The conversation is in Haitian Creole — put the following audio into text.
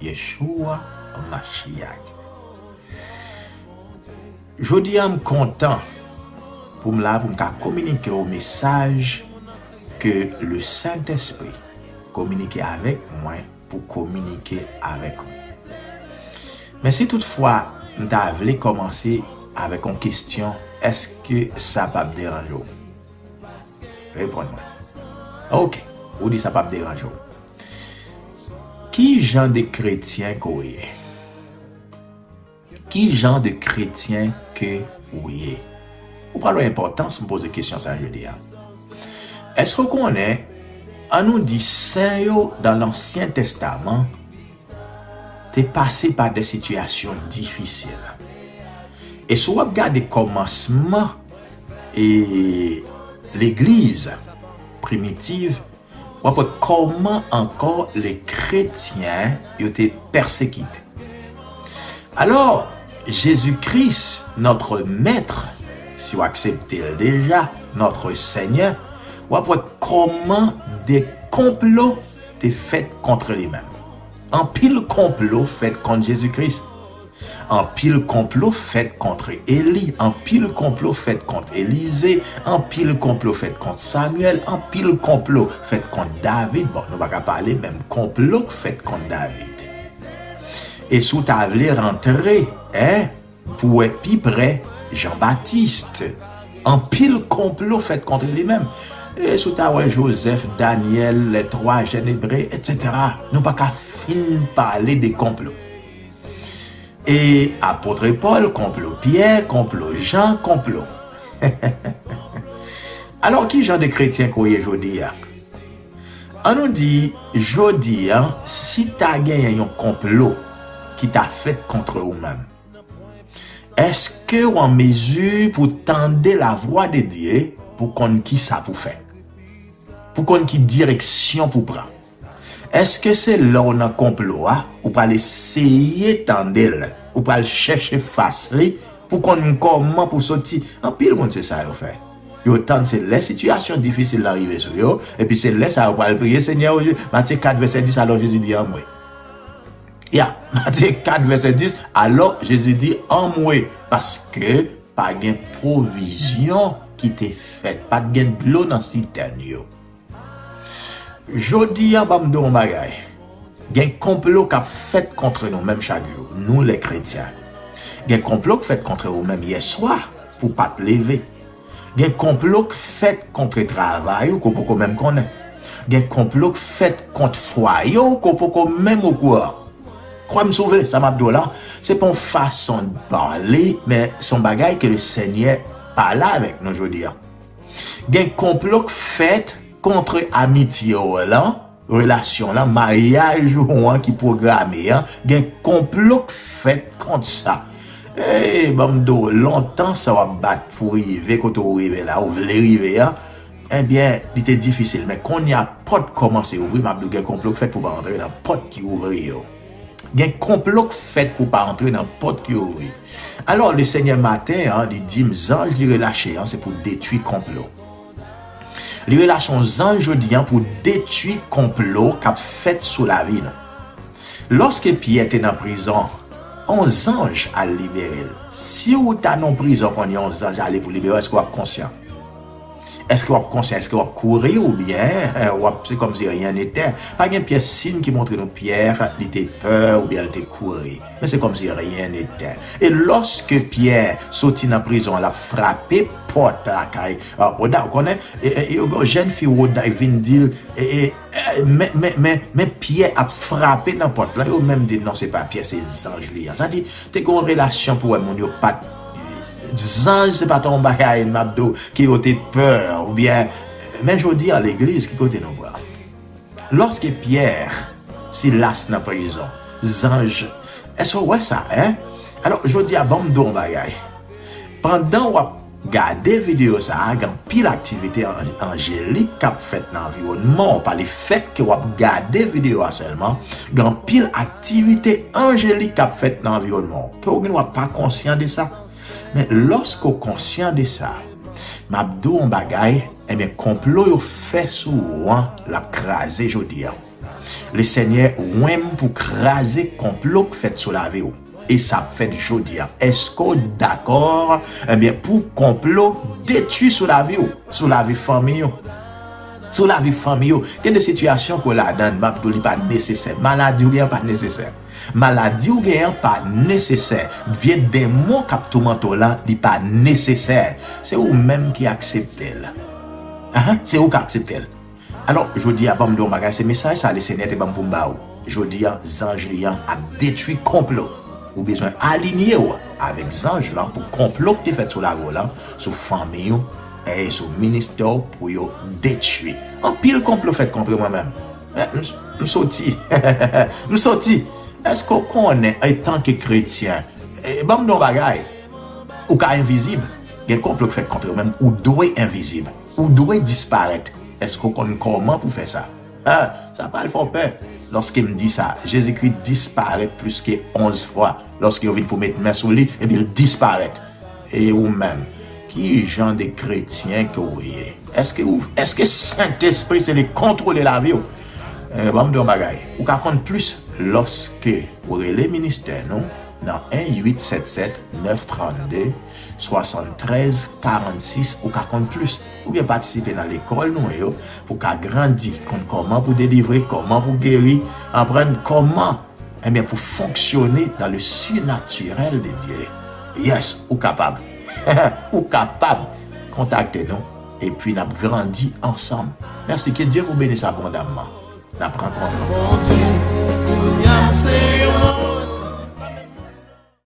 Yeshua Mashiach. Jodi a m kontan pou m la pou m ka kominike w mesaj ke le Sentespri kominike avèk mwen pou kominike avèk ou. Men si tout fwa m ta vle kòmanse avèk yon kestyon, èske sa pap deranje w? Reponn mwen. Ok, ou di sa pap deranje w. Ki jan de kretyen ke w ye? Ki jan de kretyen ke w ye? Ou pral wè enpòtans m poze kesyon sa jodi a. Èske w konnen, an nou di, sen yo dan Lansyen Testaman, te pase pa de sitiyasyon difisil. E si w ap gade kòmansman e legliz primitiv, w ap wè kòman ankò le kretyen yo te pèsekite. Alò, Jezi Kris, notre Maître, si w aksepte l deja, notre Seigneur, w ap wè kòman de konplo te fèt kontre li menm. Anpil konplo fèt kont Jezi Kris. Anpil konplo fèt kontre Eli, anpil konplo fèt kont Elize, anpil konplo fèt kont Samyèl, anpil konplo fèt kont David, bon nou pa ka pale menm konplo k fèt kont David. E si w ta vle rantre, en. Pou wè pi prè, Jean Baptiste. Anpil konplo fèt kontre li menm. E si w ta wè Jozèf, Danyèl, lè twa jèn Ebre, etsetera. Nou pa ka fin pale de konplo. E apotre Pòl, konplo Pyè, konplo Jan, konplo. Alò ki jan de kretyen ke w ye jodi a? An nou di, jodi a, si ta genyen yon konplo ki ta fèt kontre ou menm, èske w an mezi pou w tande lavwa de Dye pou w konn ki sa pou w fè, pou w konn ki direksyon pou w pran? Èske se lè w nan konplo a, ou pral eseye tande l, ou pral chèche fas li pou w konn kòman pou w soti? Anpil moun se sa yo fè. Yo tann se lè sitiyasyon difisil lan rive sou yo, epi se lè sa yo pral priye Senyè o Jezi, Matye 4 vèsè 10 alò Jezi di anmwe. Ya, Matye 4 vèsè 10 alò Jezi di anmwe, paske pa gen pwovizyon ki te fèt, pa t gen dlo nan sitèn yo. Jodi a banm di w yon bagay, gen konplo k ap fèt kontre nou menm chak jou, nou lè kretyen. Gen konplo k fèt kontre ou menm yèswa pou w pa t leve. Gen konplo k fèt kontre travay ou ke w poko menm konnen. Gen konplo k fèt kont fwaye w ke w poko menm okouran. Kwè m si w vle, sa m ap di w la, se pa yon fason de parler men se yon bagay ke Lesenyè pale avèk nou jodi a. Gen konplo k fèt kontre amitye w lan, relasyon lan, maryaj ou an ki pwograme an, gen konplo k fèt kont sa. Ey, ban m di w, lontan sa w ap bat pou w rive kote w rive la, ou vle rive an, enbyen, li te difisil. Men kounye a, pòt kòmanse ouvri, m ap di w gen konplo k fèt pou w pa antre nan pòt ki ouvri yo. Gen konplo k fèt pou w pa antre nan pòt yo wi. Alò Lesenyè maten an li di m zanj li relache an se pou detwi konplo. Li relache yon zanj jodi an pou detwi konplo k ap fèt sou lavi nou. Lòske Pyè te nan prizon, yon zanj al libere l. Si w ta nan yon prizon konn yon zanj ale pou libere w èske w ap konsyan? Eske wap konse, eske wap kouri ou byen, wap se kom si ryen nete. Pa gen pyè sin ki montre nou pyè li te pè ou byen li te kouri. Men se kom si ryen nete. E loske pyè soti nan prizon an lap frape pot la kay Roda ou konnen. E yo gen yon jen fi Roda ki vin dil e men men men men pyè ap frape nan pot la. Yo menm di non se pa pyè se zanj li an. Sa di Te gen yon relasyon pou wè moun yo pat zanj se pat yon bagay map diw ke yo te pè oubyen men jodi a legliz ki kote nou pran loske pyè silas nan prizon zanj eske ou wè sa hein alò jodi a banm diw yon bagay pandan wap Gade videyo sa a, gen anpil aktivite anjelik k ap fèt nan anviwònman w pa. Lefètke w ap gade videyo a sèlman, gen anpil aktivite anjelik k ap fèt nan anviwònman w. Ke w gen dwa pa konsyan de sa, men lòske w konsyan de sa, m ap di w yon bagay, enben konplo yo fè sou ou an, l ap kraze jodi a. Lesenyè ouen m pou kraze konplo k fèt sou lavi w. E sa ap fèt jodi a. Eske w dakò ebyen pou konplo detui sou lavi w, sou lavi fanmi w, sou lavi fanmi yo. Gen de sitiyasyon ke w ladann map di w li pa nesesè. Maladi w gen an pa nesesè. Maladi w gen an pa nesesè. Vye denmon kap toumante w lan li pa nesesè. Se ou menm ki aksepte l. Se ou ki aksepte l. Alò, jodi a, ban m di w yon bagay, se mesaj sa a Le Senyè te ban m pou m ba ou. Jodi a, zanj Li an ap detwi konplo. Ou bezwen alinye w avèk zanj lan pou konplo k te fèt sou lavi w lan, sou fanmiy ou, e sou ministè w pou yo detwi. Anpil konplo fèt kontre mwen menm. Men, m soti. M soti! Èske w konnen, antanke kretyen, ban m di w yon bagay, ou ka envizib. Gen konplo k fèt kontre w, men ou dwe envizib. Ou dwe disparèt. Èske w konn kòman pou fè sa? Ha! Sa pral fè w pè! Lòske m di sa, Jezikri disparèt pliske onz fwa lòske yo vin pou met men sou li, epi l disparèt. E ou menm? Ki jan de kretyen ke w ye? Èske ou, èske Sentespri se li k kontwole lavi w? E ban m di w yon bagay, ou ka konn plis lòske ou rele ministè nou nan 1 877 9 32 73 46 ou ka konn plis oubyen patisipe nan lekòl nou yo pou ka grandi konn kòman pou delivre kòman pou geri aprann kòman enbyen pou fonksyone nan le sinatirèl de Dye yes ou kapab ou kapab kontakte nou epi nap grandi ansanm mèsi ke Dye vou benis abondamman nap rankontre.